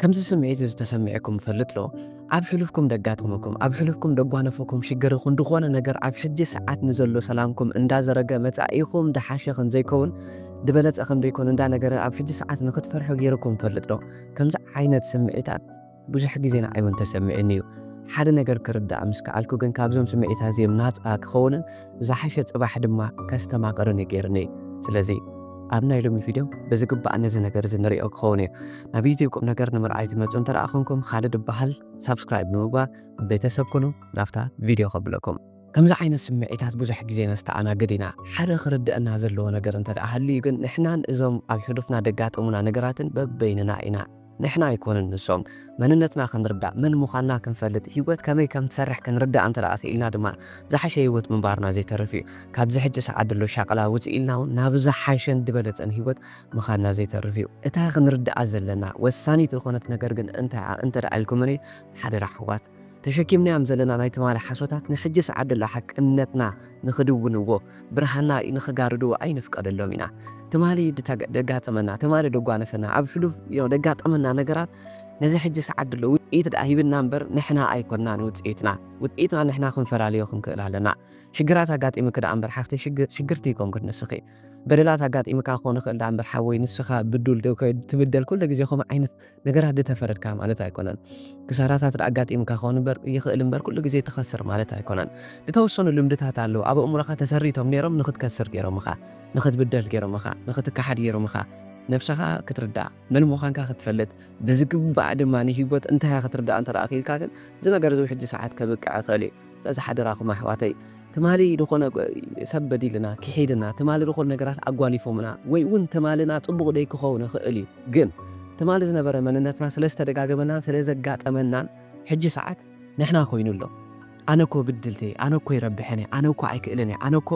ከምዚ ስምዒት እዚ ተሰሚዕኩም ይፈልጥ ዶ? ኣብ ሕሉፍኩም ደጋጠመኩም፣ ኣብ ሕሉፍኩም ደጓነፈኩም ሽግር ይኹን ድኾነ ነገር ኣብ ሕጂ ሰዓት ንዘሎ ሰላምኩም እንዳዘረገ መጻኢኹም ድሓሸ ከምዘይከውን ድበለጸ ከምደይኮን እንዳ ነገረ ኣብ ሕጂ ሰዓት ንኽትፈርሑ ጌሩኩም ይፈልጥ ዶ? ከምዚ ዓይነት ስምዒታት ብዙሕ ግዜ ንዓይ ውን ተሰሚዑኒ እዩ። ሓደ ነገር ክርዳእ ምስ ከኣልኩ ግን ካብዞም ስምዒታት እዚኦም ናጻ ክኸውንን ብዝሓሸ ጽባሕ ድማ ከስተማቅርን እዩ ጌርኒ ስለዚ ኣብ ናይ ሎሚ ቪድዮ ብዝግባእ ነዚ ነገር እዚ ንሪኦ ክኸውን እዩ ናብ ዩቲብ ቁም ነገር ንምርኣይ ትመጹ እንተ ኮንኩም ኻልድ እበሃል ሳብስክራይብ ብምግባር ቤተሰብ ኩኑ ናብታ ቪድዮ ከብለኩም ከምዚ ዓይነት ስምዒታት ብዙሕ ግዜ ነስተኣናግድ ኢና። ሓደ ክርድእና ዘለዎ ነገር እንተደኣ ሃልዩ ግን ንሕናን እዞም ኣብ ሕሉፍና ደጋጠሙና ነገራትን በበይንና ኢና። ንሕና ኣይኮንን ንሶም፣ መንነትና ክንርዳእ፣ መን ምዃንና ክንፈልጥ፣ ህይወት ከመይ ከም ትሰርሕ ክንርዳእ እንተ ደኣ ክኢልና ድማ ዝሓሸ ህይወት ምንባርና ዘይተርፍ እዩ። ካብዚ ሕጂ ሰዓት ዘሎ ሻቕላ ውጽእ ኢልና ውን ናብ ዝሓሸን ዝበለጸን ህይወት ምኻድና ዘይተርፍ እዩ። እታ ክንርድኣ ዘለና ወሳኒት ዝኾነት ነገር ግን እንታይ'ያ እንተ ደኣ ኢልኩምኒ፣ ሓደራ ኣሕዋት፣ ተሸኪምናዮም ዘለና ናይ ትማሊ ሓሶታት ንሕጂስ ዓደሎ ሓቅነትና ንኽድውንዎ ብርሃንና ንኽጋርድዎ ኣይንፍቀደሎም ኢና። ትማሊ ደጋጠመና ትማሊ ደጓነፈና ኣብ ሕሉፍ ደጋጠመና ነገራት ነዚ ሕጂስ ዓደሎ ውጽኢት ድኣ ሂብና እምበር ንሕና ኣይኮናን ውጽኢትና ውጽኢትና ንሕና ክንፈላልዮ ክንክእል ኣለና። ሽግራት ኣጋጢምኪ ድኣ እምበር ሓፍተይ ሽግርቲ ኣይኮንክን ንስኺ በደላት ኣጋጢምካ ክኾን ይኽእል ድኣ እምበር ሓወይ ንስኻ ብዱል ትብደል ኩሉ ግዜ ከምኡ ዓይነት ነገራት ድተፈረድካ ማለት ኣይኮነን። ክሳራታት ድኣጋጢምካ ክኸውን እምበር ይኽእል እምበር ኩሉ ግዜ ትኸስር ማለት ኣይኮነን። ድተወሰኑ ልምድታት ኣለዉ ኣብ ኣእምሮኻ ተሰሪቶም ነይሮም ንኽትከስር ገይሮምኻ፣ ንኽትብደል ገይሮምኻ፣ ንኽትከሓድ ገይሮምኻ፣ ነብሰኻ ክትርዳእ፣ መን ምዃንካ ክትፈልጥ፣ ብዝግባእ ድማ ንሂወት እንታይ እያ ክትርዳእ እንተ ክኢልካ ግን እዚ ነገር እዚ ውሕጂ ሰዓት ከብቅዕ ይኽእል እዩ። ስለዚ ሓደራኹም ኣሕዋተይ ትማሊ ዝኾነ ሰብ በዲልና ኪሒድና ትማሊ ዝኾነ ነገራት ኣጓኒፎምና ወይ ውን ትማልና ጽቡቕ ደይ ክኸውን ይኽእል እዩ ግን ትማሊ ዝነበረ መንነትና ስለ ዝተደጋገመናን ስለ ዘጋጠመናን ሕጂ ሰዓት ንሕና ኮይኑ ኣሎ ኣነ እኮ ብድልቲ እየ ኣነ እኮ ይረብሐን እየ ኣነ እኮ ኣይክእልን እየ ኣነ እኮ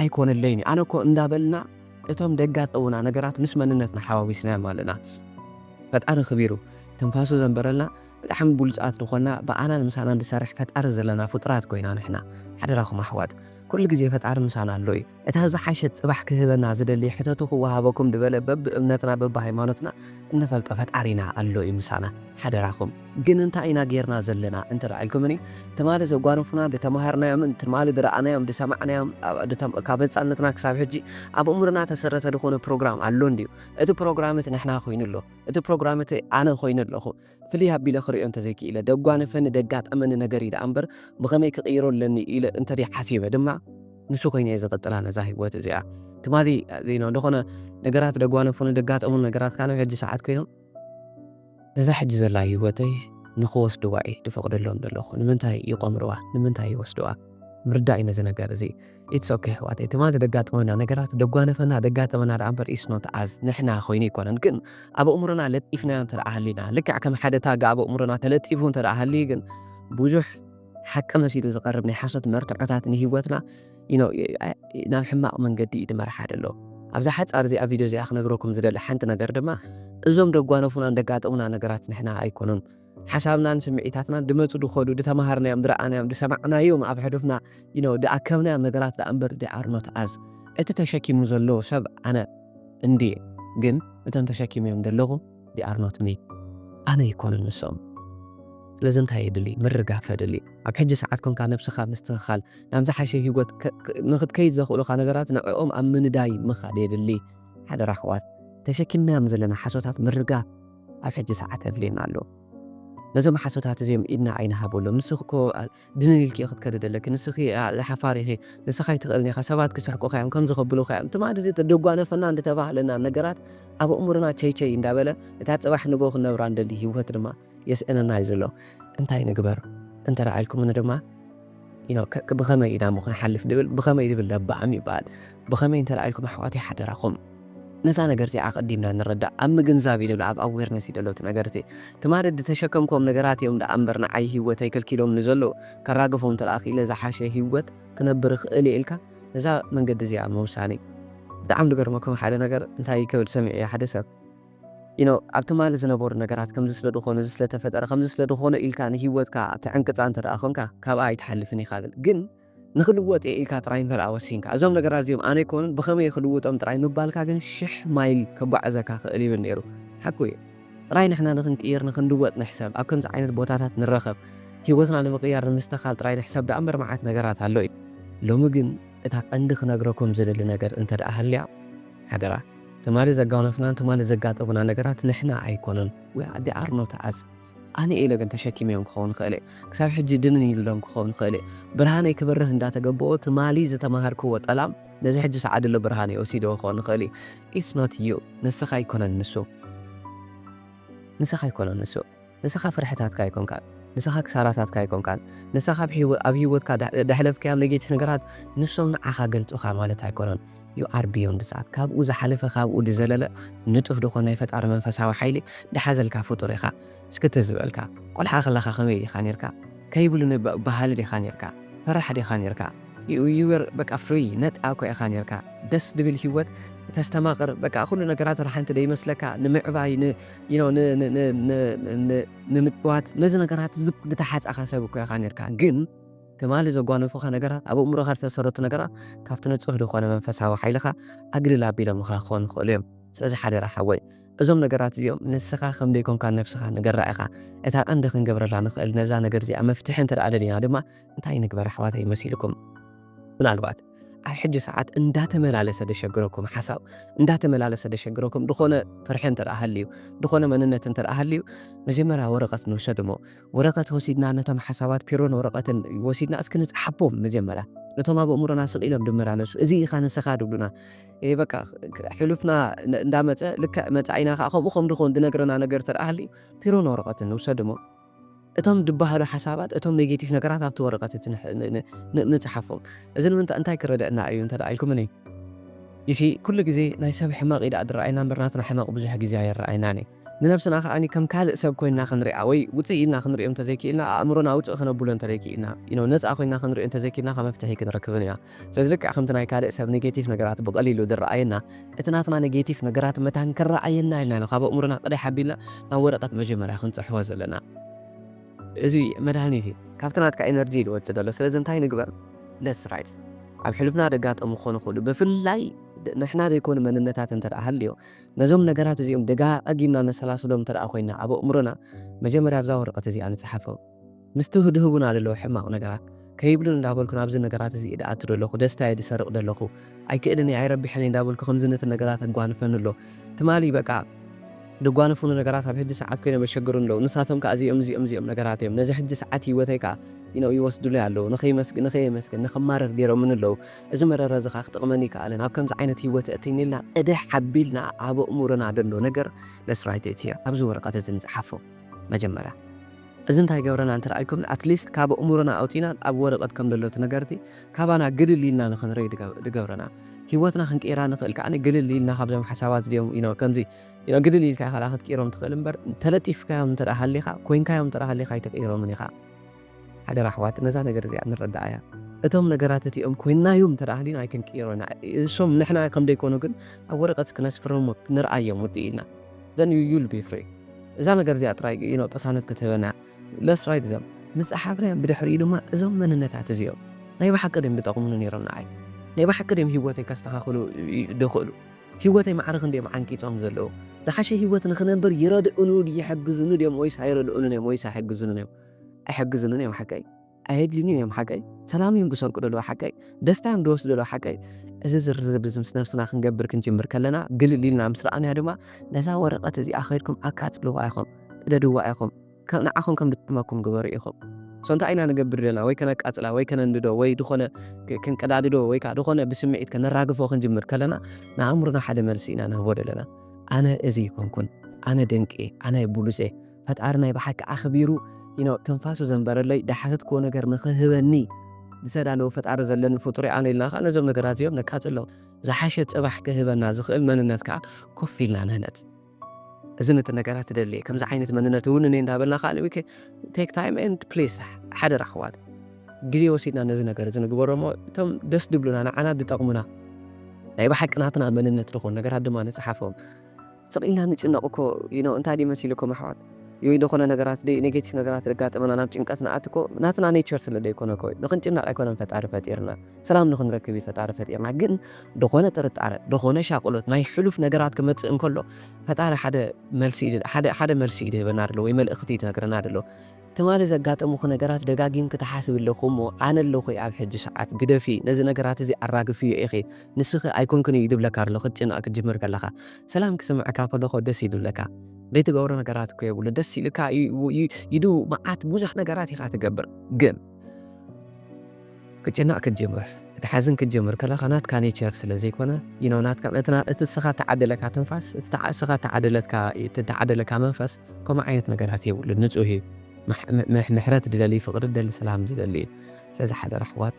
ኣይኮነለይን እዩ ኣነ እኮ እንዳበልና እቶም ደጋጠሙና ነገራት ምስ መንነትና ሓዋዊስናዮም ኣለና ፈጣሪ ክቢሩ ትንፋሱ ዘንበረልና ብጣዕሚ ብሉጻት ንኮና ብኣናን ምሳናን ድሰርሕ ፈጣሪ ዘለና ፉጡራት ኮይና ንሕና ሓደራኩም ኣሕዋት ኩሉ ግዜ ፈጣሪ ምሳና ኣሎ እዩ እታ ዝሓሸት ጽባሕ ክህበና ዝደሊ ሕተቱ ክዋሃበኩም ድበለ በብ እምነትና በብ ሃይማኖትና እንፈልጦ ፈጣሪና ኣሎ እዩ ምሳና ሓደራኩም ግን እንታይ ኢና ጌርና ዘለና እንተ ኢልኩምኒ ትማሊ ዘጓነፉና ድተማሃርናዮምን ትማሊ ድረኣናዮም ድሰማዕናዮም ካብ ህጻነትና ክሳብ ሕጂ ኣብ እምሮና ተሰረተ ድኮነ ፕሮግራም ኣሎ እንድዩ እቲ ፕሮግራም እቲ ንሕና ኮይኑ ኣሎ እቲ ፕሮግራም እቲ ኣነ ኮይነ ኣለኹ ፍልይ ኣቢለ ክርእዮ እንተዘይክኢለ፣ ደጓነፈኒ ደጋጠመኒ ነገር እዩ ደኣ እምበር ብኸመይ ክቕይሮ ኣለኒ ኢለ እንተደይ ሓሲበ ድማ ንሱ ኮይነ እየ ዝቕጽላ ነዛ ህይወት እዚኣ። ትማሊ ዜና ዝኾነ ነገራት ደጓነፉኒ ደጋጠሙን ነገራት ካነ ሕጂ ሰዓት ኮይኖም ነዛ ሕጂ ዘላ ህይወተይ ንክወስድዋ እየ ድፈቕደሎም ዘለኹ። ንምንታይ ይቆምርዋ? ንምንታይ ይወስድዋ? ምርዳእ እዩ ነዚ ነገር እዚ። ኢትስ ኦኬ ኣሕዋተይ ትማሊ ደጋጠመና ነገራት ደጓነፈና ደጋጠመና ደኣ እምበር ኢትስ ኖት ኣዝ ንሕና ኮይኑ ኣይኮነን ግን ኣብ ኣእምሮና ለጢፍናዮ እንተ ሃሊና ልክዕ ከም ሓደ ታግ ኣብ ኣእምሮና ተለጢፉ እንተ ሃልዩ ግን ብዙሕ ሓቂ መሲሉ ዝቐርብ ናይ ሓሶት መርትዖታት ንሂወትና ናብ ሕማቕ መንገዲ እዩ ድመርሓ ደሎ ኣብዛ ሓጻር እዚኣ ቪድዮ እዚኣ ክነግረኩም ዝደሊ ሓንቲ ነገር ድማ እዞም ደጓነፉናን ደጋጠሙና ነገራት ንሕና ኣይኮኑን ሓሳብናን ስምዒታትናን ድመጹ ድኸዱ ድተማሃርናዮም ድረኣናዮም ድሰማዕናዮም ኣብ ሕዱፍና you know ድኣከብናዮም ነገራት ደኣ እምበር they are not us እቲ ተሸኪሙ ዘሎ ሰብ ኣነ እንድየ ግን እቶም ተሸኪመዮም ዘለኹ they are not me ኣነ ኣይኮኑን ንሶም ስለዚ እንታይ የድሊ ምርጋፍ የድሊ ኣብ ሕጂ ሰዓት ኮንካ ነብስኻ ምስትኽኻል ናብ ዝሓሸ ሂወት ንክትከይድ ዘኽእሉኻ ነገራት ንዕኦም ኣብ ምንዳይ ምኻድ የድሊ ሓደራ ኣሕዋት ተሸኪምናዮም ዘለና ሓሶታት ምርጋፍ ኣብ ሕጂ ሰዓት ኣድልየና ኣሎ ነዞም ሓሶታት እዚኦም ኢድና ኣይንሃበሎም ንስኺ እኮ ድንን ኢልኪ ክትከዲ ዘለኪ ንስኺ ሓፋር ኢኺ ንስኻ ኣይትኽእልን ኢኻ ሰባት ክስሕቁኻ እዮም ከምዚ ከብሉኻ እዮም ትማሊ ደጓነፈና እንተተባህለና ነገራት ኣብ እሙርና ቸይቸይ እንዳበለ እታ ፅባሕ ንጎ ክንነብራ እንደሊ ህይወት ድማ የስእነና እዩ ዘሎ እንታይ ንግበር እንተረኣኢልኩምኒ ድማ ብኸመይ ኢናሞ ክንሓልፍ ድብል ብኸመይ ድብል ለባዕም ይበሃል ብኸመይ እንተለኣኢልኩም ኣሕዋተይ ሓደራኹም ነዛ ነገር እዚኣ ኣቐዲምና ንረዳእ ኣብ ምግንዛብ እዩ ድብል ኣብ ኣዌርነስ እዩ ደሎ እቲ ነገር እቲ ትማሊ ድተሸከምክዎም ነገራት እዮም ደኣ እምበር ንዓይ ሂወተይ ከልኪሎም ንዘለዉ ከራግፎም እንተለኣ ክኢለ ዝሓሸ ሂወት ክነብር ይኽእል እየ ኢልካ ነዛ መንገዲ እዚኣ ምውሳን እዩ ብጣዕሚ ድገርመኩም ሓደ ነገር እንታይ ክብል ሰሚዐዮ ሓደ ሰብ you know ኣብ ትማሊ ዝነበሩ ነገራት ከምዚ ስለ ድኾኑ እዚ ስለ ተፈጠረ ከምዚ ስለ ድኾኑ ኢልካ ንሂወትካ ትዕንቅጻ እንተ ደኣ ኮንካ ካብኣ ኣይትሓልፍን ኢኻ ብል ግን ንኽልወጥ እየ ኢልካ ጥራይ እንተ ደኣ ወሲንካ እዞም ነገራት እዚኦም ኣነ ኣይኮኑን ብኸመይ እየ ክልውጦም ጥራይ ምባልካ ግን ሽሕ ማይል ከጓዕዘካ ክእል ይብል ኔሩ ሓቁ እዩ ጥራይ ንሕና ንኽንቅይር ንኽንልወጥ ንሕሰብ ኣብ ከምዚ ዓይነት ቦታታት ንረኸብ ሂወትና ንምቕያር ንምስተኻል ጥራይ ንሕሰብ ደኣ እምበር መዓት ነገራት ኣሎ እዩ ሎሚ ግን እታ ቀንዲ ክነግረኩም ዝደሊ ነገር እንተ ደኣ ሃልያ ሓደራ ትማሊ ዘጋነፍናን ትማሊ ዘጋጠሙና ነገራት ንሕና ኣይኮኑን we are they are not us ኣነ ኢለ ግን ተሸኪመዮም ክኸውን ይኽእል እየ ክሳብ ሕጂ ድንን ኢሉሎም ክኸውን ይኽእል እዩ ብርሃነይ ክበርህ እንዳተገበኦ ትማሊ ዝተማሃርክዎ ጠላም ነዚ ሕጂ ሰዓድሎ ብርሃነይ ወሲድዎ ክኸውን ይኽእል እዩ it's not you ንስኻ ኣይኮነን ንሱ ንስኻ ኣይኮነን ንሱ ንሰኻ ፍርሕታትካ ኣይኮንካን ንሰኻ ክሳራታትካ ኣይኮንካን ንሰኻ ኣብ ሂወትካ ደሕለፍካዮም ነጌቲፍ ነገራት ንሶም ንዓኻ ገልጹኻ ማለት ኣይኮነን you are beyond that ካብኡ ዝሓለፈ ካብኡ ድዘለለ ንጡፍ ድኾን ናይ ፈጣሪ መንፈሳዊ ሓይሊ ድሓዘልካ ፍጡር ኢኻ እስኪ ትዝ በልካ ቆልሓ ከለኻ ከመይ ዲኻ ኔርካ ከይብሉ በሃሊ ዲኻ ኔርካ ፈራሕ ዲኻ ኔርካ you were በቃ free ነጻ እኮ ኢኻ ኔርካ ደስ ድብል ሂወት ተስተማቅር በቃ ኩሉ ነገራት ረሓንቲ ደይመስለካ ንምዕባይ ንምጥዋት ነዚ ነገራት ዝተሓጻኻ ሰብ እኮ ኢኻ ኔርካ ግን ትማሊ ዘጓነፉኻ ነገራት ኣብ ኣእምሮኻ ዝተሰረቱ ነገራት ካብቲ ንጹህ ዝኾነ መንፈሳዊ ሓይልኻ ኣግልል ኣቢሎምኻ ክኾኑ ይኽእሉ እዮም ስለዚ ሓደራ ሓወይ እዞም ነገራት እዚኦም ንስኻ ከም ዘይኮንካ ነብስኻ ንገራ ኢኻ እታ ቀንዲ ክንገብረላ ንኽእል ነዛ ነገር እዚኣ መፍትሒ እንተ ደኣ ደሊና ድማ እንታይ ንግበር ኣሕዋተይ መሲልኩም ምናልባት ኣብ ሕጂ ሰዓት እንዳተመላለሰ ደሸግረኩም ሓሳብ እንዳተመላለሰ ደሸግረኩም ድኾነ ፍርሒ እንተ ሃልዩ ድኾነ መንነት እንተ ሃልዩ መጀመርያ ወረቐት ንውሰድ እሞ ወረቐት ወሲድና ነቶም ሓሳባት ፒሮን ወረቐትን ወሲድና እስኪ ንጽሓቦም መጀመርያ ነቶም ኣብ እእምሮና ስቕ ኢሎም ድመላለሱ እዚ ኢኻ ንስኻ ድብሉና በቃ ሕሉፍና እንዳመፀ ልክዕ መፃኢና ከዓ ከምኡ ከም ድኾን ድነግረና ነገር ተደኣ ሃልዩ ፒሮን ወረቐትን ንውሰድ እሞ እቶም ድበሃሉ ሓሳባት እቶም ኔጌቲቭ ነገራት ኣብቲ ወረቀት እቲ ንጽሓፎም እዚ ንምንታይ እንታይ ክረደእና እዩ እንተ ኢልኩምኒ ኢፊ ኩሉ ግዜ ናይ ሰብ ሕመቅ እዩ ደኣ ድረኣየና እምበር ናትና ሕመቅ ብዙሕ ግዜ ኣይረኣየናን እዩ ንነብስና ከኣ ከም ካልእ ሰብ ኮይና ክንሪኣ ወይ ውጽእ ኢልና ክንሪኦ እንተዘይኪኢልና ኣእምሮና ውጽእ ከነብሎ እንተዘይኪኢልና ነጻ ኮይና ክንሪኦ እንተዘይኪኢልና ከ መፍትሒ ክንረክብን ኢና ስለዚ ልክዕ ከምቲ ናይ ካልእ ሰብ ነጌቲፍ ነገራት ብቐሊሉ ዝረኣየና፣ እቲ ናትና ነጌቲፍ ነገራት መታን ክረኣየና ኢልና ኢና ካብ ኣእምሮና ቅደሕ ኣቢልና ናብ ወረቐት መጀመርያ ክንጽሕፎ ዘለና። እዚ መድሃኒት እዩ ካብቲ ናትካ ኢነርጂ ዝወጽእ ዘሎ። ስለዚ እንታይ ንግበር? Let's write። ኣብ ሕሉፍና ዘጋጠሙ ክኾኑ ይኽእሉ፣ ብፍላይ ንሕና ዘይኮኑ መንነታት እንተ ሃልዮም፣ ነዞም ነገራት እዚኦም ደጋጊምና ነሰላስሎም እንተ ኮይና ኣብ ኣእምሮና፣ መጀመርያ ኣብዛ ወረቐት እዚኣ ንጽሓፎም። ምስ ትህድህቡና ደለዉ ሕማቕ ነገራት ከይብሉን እንዳበልኩ ናብዚ ነገራት እዚ እየ ድኣቱ ደለኹ ደስታይ እየ ድሰርቕ ደለኹ ኣይክእልን እየ ኣይረብሕን እየ እንዳበልኩ ከምዚ ነቲ ነገራት ኣጓንፈኒ ኣሎ ትማሊ በቃ ድጓንፉኒ ነገራት ኣብ ሕጂ ሰዓት ኮይኖም የሸግሩኒ ኣለዉ ንሳቶም ከኣ እዚኦም እዚኦም እዚኦም ነገራት እዮም ነዚ ሕጂ ሰዓት ሂወተይ ከኣ ይነው ይወስዱለይ ኣለዉ ንኸይመስግ ንኸየመስግን ንኸማርር ጌሮምኒ ኣለዉ እዚ መረረ እዚ ከኣ ክጠቕመኒ ኣይከኣለን ኣብ ከምዚ ዓይነት ሂወት የእትይኒ ኢልና እድሕ ኣቢልና ኣብ ኣእሙሮና ደሎ ነገር ለስራይት እትየ ኣብዚ ወረቐት እዚ ንጽሓፎ መጀመርያ እዚ እንታይ ይገብረና እንተ ኢልኩምኒ at least ካብ ኣእምሮና ኣውጺእና ኣብ ወረቐት ከም ዘሎ እቲ ነገር'ቲ ካባና ግልል ኢልና ንኽንርእይ ድገብረና። ሂወትና ክንቅይራ ንኽእል ከኣ ግልል ኢልና ካብዞም ሓሳባት እዚኦም you know ከምዚ you know ግልል ኢልካ ኢኻ ደኣ ክትቅይሮም ትኽእል እምበር ተለጢፍካዮም እንተ ሃሊኻ ኮይንካዮም እንተ ሃሊኻ ኣይትቕይሮምን ኢኻ። ሓደራ ኣሕዋት ነዛ ነገር እዚኣ ንረድኣያ። እቶም ነገራት እቲኦም ኮይንናዮም እንተ ሃሊና ኣይክንቅይሮ ኢና። እሶም ንሕና ከም ዘይኮኑ ግን ኣብ ወረቐት ክነስፍሮም ንርኣዮም ውድእ ኢልና። Then you you'll be free እዛ ነገር እዚኣ ጥራይ እዩ ነው ቅሳነት ክትህበና Let's write them ምጸሓፍናዮም ብድሕሪኡ ድማ እዞም መንነታት እዚኦም ናይ ብሓቂ ድዮም ድጠቕሙኒ ነይሮም ንዓይ ናይ ብሓቂ ድዮም ህይወተይ ከስተኻኽሉ ድኽእሉ ህይወተይ ማዕረ ክንዲ እዮም ዓንቂጾም ዘለዉ ዝሓሸ ህይወት ንኽነብር ይረድኡኑ ይሕግዙኒ ድዮም ወይስ ኣይረድኡንን እዮም ወይስ ኣይሕግዙንን እዮም ኣይሕግዙንን እዮም ሓቀይ ኣየድልዩን ኢዮም ሓቀይ ሰላም ኢዮም ድሰርቁ ደለዉ ሓቀይ ደስታ ኢዮም ድወስዱ ደለዉ ሓቀይ እዚ ዝርዝር እዚ ምስ ነብስና ክንገብር ክንጅምር ከለና ግልል ኢልና ምስ ረኣናዮ ድማ ነዛ ወረቀት እዚኣ ከይድኩም ኣቃጽልዋ ኢኹም ቅደድዋ ኢኹም ከም ንዓኹም ከም ድጥዕመኩም ግበሩ ኢኹም ሶ እንታይ ኢና ንገብር ደለና ወይ ከነቃጽላ ወይ ከነንድዶ ወይ ድኾነ ክንቀዳድዶ ወይ ከኣ ድኾነ ብስምዒት ከነራግፎ ክንጅምር ከለና ንኣእምሮና ሓደ መልሲ ኢና ንህቦ ደለና ኣነ እዚ ኣይኮንኩን ኣነ ደንቂ እየ ኣነ ቡሉጽ እየ ፈጣሪ ናይ ብሓቂ ኣኽቢሩ ዩኖ ትንፋሱ ዘንበረለይ ድሓተትክዎ ነገር ንኽህበኒ ዝተዳለወ ፈጣሪ ዘለኒ ፍጡር'የ ኣነ ኢልና ከኣ ነዞም ነገራት እዚኦም ነቃጽሎም ዝሓሸ ጽባሕ ክህበና ዝኽእል መንነት ከኣ ኮፍ ኢልና ንህነጽ እዚ ነቲ ነገራት ትደልየ ከምዚ ዓይነት መንነት እውን እኔ እንዳበልና ከዓ ዊከ ቴክ ታይም ኤንድ ፕሊስ ሓደራ ኣሕዋት ግዜ ወሲድና ነዚ ነገር እዚ ንግበሮ እሞ እቶም ደስ ድብሉና ንዓና ዝጠቕሙና ናይ ብሓቂ ናትና መንነት ዝኾኑ ነገራት ድማ ንፅሓፎም ስቅ ኢልና ንጭነቅ እኮ ዩኖ እንታይ ድዩ መሲሉኩም ኣሕዋት ዩይ ድኮነ ነገራት ድይ ኔጌቲቭ ነገራት ደጋጥመና ናብ ጭንቀት ንኣቱ እኮ ናትና ኔቸር ስለ ደይኮነ እኮ ዩ ንክንጭነቅ ኣይኮነን ፈጣሪ ፈጢርና ሰላም ንክንረክብ ዩ ፈጣሪ ፈጢርና ግን ድኮነ ጥርጣረ ድኮነ ሻቅሎት ናይ ሕሉፍ ነገራት ክመጽእ እንከሎ ፈጣሪ ሓደ መልሲ ኢዩ ሓደ ሓደ መልሲ ኢዩ ድህበና ደሎ ወይ መልእክቲ ኢዩ ድነግረና ደሎ ትማሊ ዘጋጠሙኺ ነገራት ደጋጊምኪ ትሓስቢ ኣለኺ እሞ ኣነ ኣለኹ ኣብ ሕጂ ሰዓት ግደፊ ነዚ ነገራት እዚ ኣራግፍዮ ኢኺ ንስኺ ኣይኮንክን እዩ ድብለካ ኣሎ ክትጭነቕ ክትጅምር ከለኻ ሰላም ክስምዕካ ከለኹ ደስ እዩ ድብለካ ዘይትገብሮ ነገራት እኮ የብሉ ደስ ኢልካ ይዱ መዓት ብዙሕ ነገራት ኢኻ ትገብር ግን ክጭነቅ ክትጅምር ክትሓዝን ክትጅምር ከለካ ናትካ ኔቸር ስለ ዘይኮነ you know ናትካ እቲ እቲ ንስካ እተዓደለካ ትንፋስ እቲ ንስካ እተዓደለትካ እቲ እተዓደለካ መንፈስ ከምኡ ዓይነት ነገራት የብሉን ንጹህ እዩ ምሕረት ዝደሊ ፍቅሪ ዝደሊ ሰላም ዝደሊ እዩ ስለዚ ሓደራ ኣሕዋት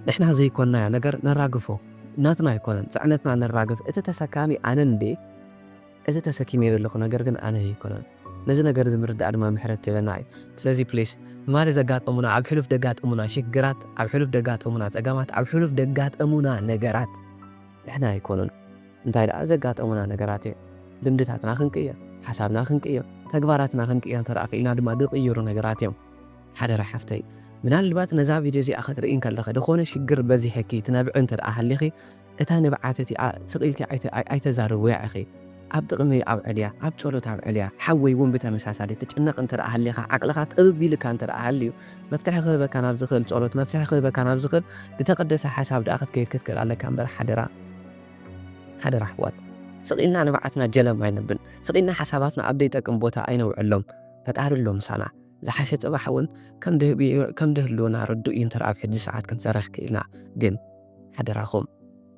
ንሕና ዘይኮንናዮ ነገር ነራግፎ ናትና ኣይኮነን ጽዕነትና ነራግፍ እቲ ተሰካሚ ኣነ እንድየ እዚ ተሰኪመዮ ዘለኹ ነገር ግን ኣነ ኣይኮነን ነዚ ነገር እዚ ምርዳእ ድማ ምሕረት ትህበና እዩ ስለዚ ፕሊስ ትማሊ ዘጋጠሙና ኣብ ሕሉፍ ደጋጠሙና ሽግራት ኣብ ሕሉፍ ደጋጠሙና ጸገማት ኣብ ሕሉፍ ደጋጠሙና ነገራት ንሕና ኣይኮኑን እንታይ ደኣ ዘጋጠሙና ነገራት እዮም ልምድታትና ክንቅይር ሓሳብና ክንቅይር ተግባራትና ክንቅይር እንተ ደኣ ክኢልና ድማ ዝቕይሩ ነገራት እዮም ሓደራ ሓፍተይ ምናልባት ነዛ ቪድዮ እዚኣ ክትርኢ እንከለኺ ዝኾነ ሽግር በዚሕኪ ትነብዒ እንተ ደኣ ሃሊኺ እታ ንብዓት እቲኣ ስቕ ኢልኪ ኣይተዛርብውያ ኢኺ፣ ኣብ ጥቕሚ ኣውዕልያ፣ ኣብ ጸሎት ኣውዕልያ። ሓወይ እውን ብተመሳሳሊ፣ ትጭነቕ እንተደኣ ሃሊኻ፣ ዓቕልኻ ጥብብ ኢሉካ እንተደኣ ሃልዩ፣ መፍትሒ ክህበካ ናብ ዝኽእል ጸሎት፣ መፍትሒ ክህበካ ናብ ዝኽእል ዝተቐደሰ ሓሳብ ደኣ ክትከይድ ክትክእል ኣለካ እምበር ሓደራ ሓደራ ኣሕዋት ስቕ ኢልና ንብዓትና ጀለም ኣይነብል፣ ስቕ ኢልና ሓሳባትና ኣብ ዘይጠቅም ቦታ ኣይነውዕሎም፣ ፈጣሪ ኣሎ ምሳና። ዝሓሸ ጽባሕ እውን ከም ድህሉወና ርዱእ እዩ እንተደኣ ኣብ ሕጂ ሰዓት ክንሰርሕ ክኢልና ግን። ሓደራኹም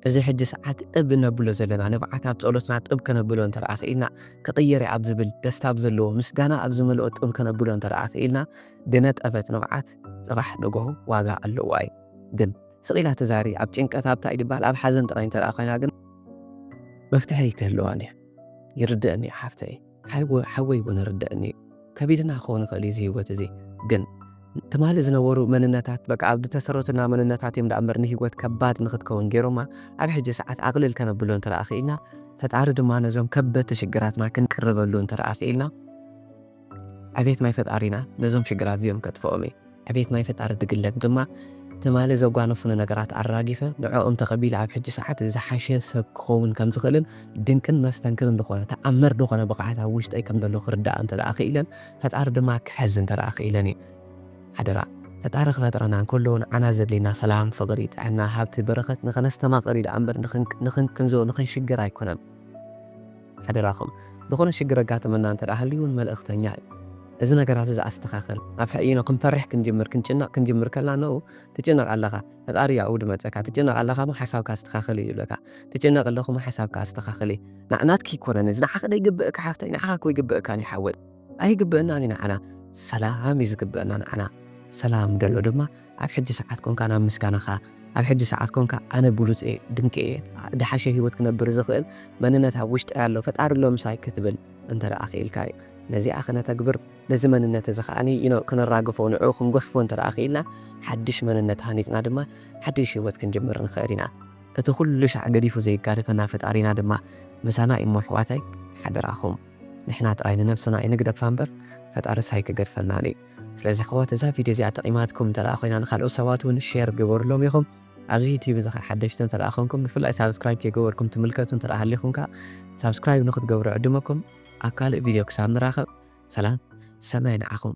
እዚ ሕጂ ሰዓት እብ እነብሎ ዘለና ንብዓት ኣብ ጸሎትና ጥብ ከነብሎ እንተደኣ ክኢልና ክቕየር'ዩ ኣብ ዝብል ደስታ ኣብ ዘለዎ ምስጋና ኣብ ዝመልኦ ጥብ ከነብሎ እንተደኣ ክኢልና ድነጠፈት ንብዓት ጽባሕ ንግሆ ዋጋ ኣለዋ እዩ ግን ስቕ ኢላ ትዛሪ ኣብ ጭንቀት ኣብ ታይ ድበሃል ኣብ ሓዘን ጥራይ እንተደኣ ኮይና ግን መፍትሒ ኣይክህልዋን እዩ ይርደእኒ እዩ ሓፍተይ። ሓው ሓወይ ውን ይርደኣኒ እዩ ከቢድና ክኸውን ይኽእል እዩ እዚ ሂወት እዚ ግን ትማሊ ዝነበሩ መንነታት በቃ ኣብ ዝተሰረቱና መንነታት እዮም ዳኣምበር ንሂወት ከባድ ንክትከውን ገይሮማ ኣብ ሕጂ ሰዓት ኣቕልል ከነብሎ እንተ ክኢልና ፈጣሪ ድማ ነዞም ከበድቲ ሽግራትና ክንቅርበሉ እንተ ክኢልና ዕቤት ናይ ፈጣሪና ነዞም ሽግራት እዚኦም ከጥፍኦም እዩ። ዕቤት ናይ ፈጣሪ ድግለብ ድማ ትማሊ ዘጓነፉኒ ነገራት ኣራጊፈ ንዕኦም ተቐቢለ ኣብ ሕጂ ሰዓት ዝሓሸ ሰብ ክኸውን ከም ዝኽእልን ድንቅን መስተንክርን ዝኾነ ተኣምር ዝኾነ ብቕዓት ኣብ ውሽጠይ ከም ዘሎ ክርዳእ እንተ ደኣ ክኢለን ፈጣሪ ድማ ክሕዝ እንተ ደኣ ክኢለን እዩ። ሓደራ ፈጣሪ ክፈጥረና እንከሎ ንዓና ዘድልየና ሰላም፣ ፍቕሪ፣ ጥዕና፣ ሃብቲ፣ በረኸት ንኸነስተማቕር እዩ ደኣ እምበር ንኽንቅንዞ ንኽንሽገር ኣይኮነን። ሓደራኹም ዝኾነ ሽግር ኣጋጥመና እንተድኣ ሃልዩውን መልእኽተኛ እዩ እዚ ነገራት እዚ ኣስተኻኽል ኣብ ሕኢኖ ክንፈርሕ ክንጅምር ክንጭነቕ ክንጅምር ከላ ንኡ ትጭነቕ ኣለኻ ፈጣሪ እዩ ኣብኡ ድመፀካ ትጭነቕ ኣለኻሞ ሓሳብካ ኣስተኻኽል እዩ ይብለካ ትጭነቕ ኣለኹሞ ሓሳብካ ኣስተኻኽሊ ናትኪ ኣይኮነን እዚ ንዓኺ ደይግብእካ ሓፍተይ ንዓኻ እኮ ይግብእካን እዩ ሓወይ ኣይግብእናን እዩ ንዓና ሰላም እዩ ዝግብእና ንዓና ሰላም ደሎ ድማ ኣብ ሕጂ ሰዓት ኮንካ ናብ ምስጋናኻ ኣብ ሕጂ ሰዓት ኮንካ ኣነ ብሉጽ እየ ድንቂ እየ ድሓሸ ሂወት ክነብር ዝኽእል መንነት ኣብ ውሽጠይ ኣሎ ፈጣሪ ኣሎ ምሳይ ክትብል እንተ ክኢልካ እዩ ነዚኣ ክነተግብር ነዚ መንነት እዚ ከኣ ክነራግፎ ንዕኡ ክንጉሕፎ እንተ ክኢልና ሓድሽ መንነት ሃኒጽና ድማ ሓድሽ ሂወት ክንጅምር ንኽእል ኢና እቲ ኩሉ ሻዕ ገዲፉ ዘይጋደፈና ፈጣሪና ድማ ምሳና እዩሞ ኣሕዋተይ ሓደራኹም ንሕና ጥራይ ንነብስና ኣይንግደፋ እምበር ፈጣርስ ኣይክገድፈናን እዩ። ስለዚ ኣሕዋት እዛ ቪድዮ እዚኣ ጠቂማትኩም እንተ ኮይና ንካልኦት ሰባት ውን ሼር ግበርሎም ኢኹም። ኣብዚ ዩቲዩብ እዚ ከኣ ሓደሽቲ እንተ ኮንኩም ብፍላይ ሳብስክራይብ ከይገበርኩም ትምልከቱ እንተ ሃሊኹም ከኣ ሳብስክራይብ ንክትገብሩ ዕድመኩም። ኣብ ካልእ ቪድዮ ክሳብ ንራኸብ ሰላም ሰናይ ንዓኹም።